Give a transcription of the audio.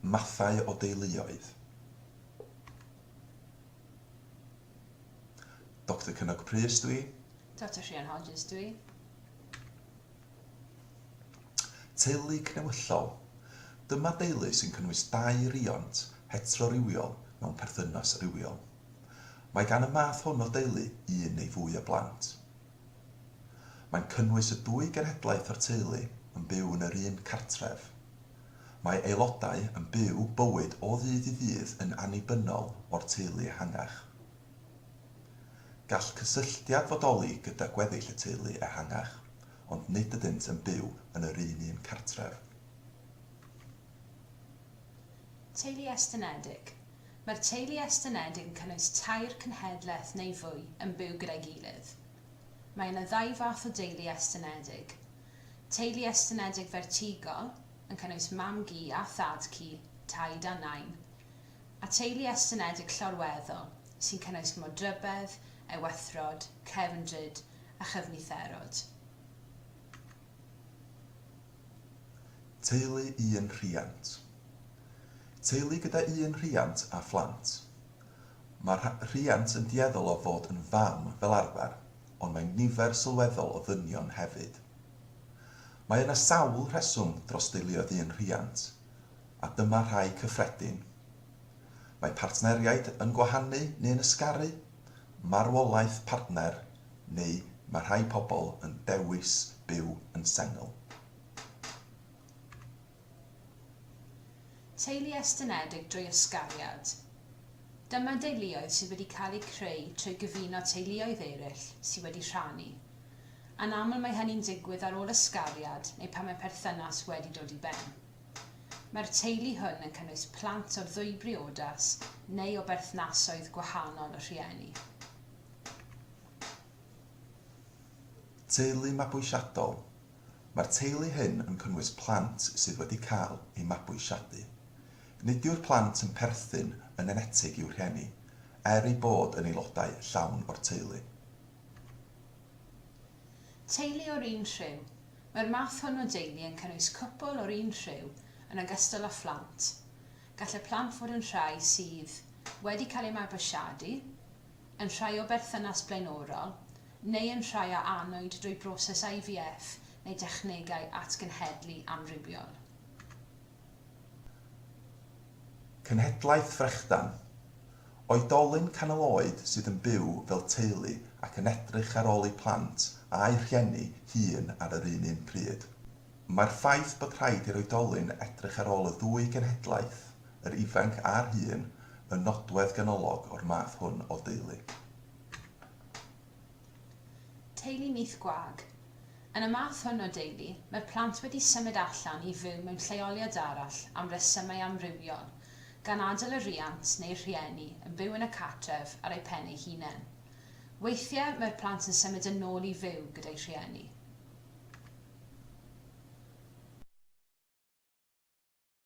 mathau o deuluoedd, Doctor Cynog Prys dw i. Doctor Rhian Hodges dw i. Teulu cnewyllol, Dyma deulu sy'n cynnwys dau riont heterorywiol mewn perthynas rywiol. Mae gan y math hwn o deulu un neu fwy o blant. Mae'n cynnwys y dwy genhedlaeth o'r teulu yn byw yn yr un cartref. Mae aelodau yn byw bywyd o ddydd i ddydd yn annibynnol o'r teulu ehangach. Gall cysylltiad fodoli gyda gweddill y teulu ehangach, ond nid ydynt yn byw yn yr un un cartref. Teulu estynedig. Mae'r teulu estynedig yn cynnwys tair cenhedlaeth neu fwy yn byw gyda'i gilydd. Mae yna ddau fath o deulu estynedig. Teulu estynedig fertigol, yn cynnwys mam-gu a thad-cu, taid a nain. A teulu estynedig llorweddol, sy'n cynnwys modrybedd, ewethrod, cefndryd a chyfnitherod. Teulu un rhiant. Teulu gyda un rhiant a phlant. Mae'r rhiant yn dueddol o fod yn fam fel arfer, ond mae nifer sylweddol o ddynion hefyd. Mae yna sawl rheswm dros deuluoedd un rhiant, a dyma rhai cyffredin. Mae partneriaid yn gwahanu neu'n ysgaru. marwolaeth partner neu mae rhai pobl yn dewis byw yn sengl. Teulu estynedig drwy ysgariad. Dyma deuluoedd sydd wedi cael eu creu trwy gyfuno teuluoedd eraill sydd wedi rhannu. Anaml mae hynny'n digwydd ar ôl ysgariad neu pan mae perthynas wedi dod i ben. Mae'r teulu hwn yn cynnwys plant o ddwy briodas neu o berthnasoedd gwahanol y rhieni. Teulu mabwysiadol Mae'r teulu hyn yn cynnwys plant sydd wedi cael eu mabwysiadu. Nid yw'r plant yn perthyn yn enetig i'w rhieni, er eu bod yn aelodau llawn o'r teulu. Teulu o'r un rhyw Mae'r math hwn o deulu yn cynnwys cwpl o'r un rhyw yn ogystal â phlant. Gall y plant fod yn rhai sydd wedi cael eu mabwysiadu, yn rhai o berthynas blaenorol, neu yn rhai a anwyd drwy broses IVF neu dechnegau atgenhedlu amrywiol. Cenhedlaeth frechdan. Oedolyn canol oed sydd yn byw fel teulu ac yn edrych ar ôl eu plant a'u rhieni hŷn ar yr un un pryd. Mae'r ffaith bod rhaid i'r oedolyn edrych ar ôl y ddwy genhedlaeth, yr ifanc a'r hŷn, yn nodwedd ganolog o'r math hwn o deulu. Teulu nyth gwag. Yn y math hwn o deulu, mae'r plant wedi symud allan i fyw mewn lleoliad arall am resymau amrywiol, gan adael y rhiant neu'r rhieni yn byw yn y cartref ar eu pen eu hunain. Weithiau mae'r plant yn symud yn ôl i fyw gyda'u rhieni.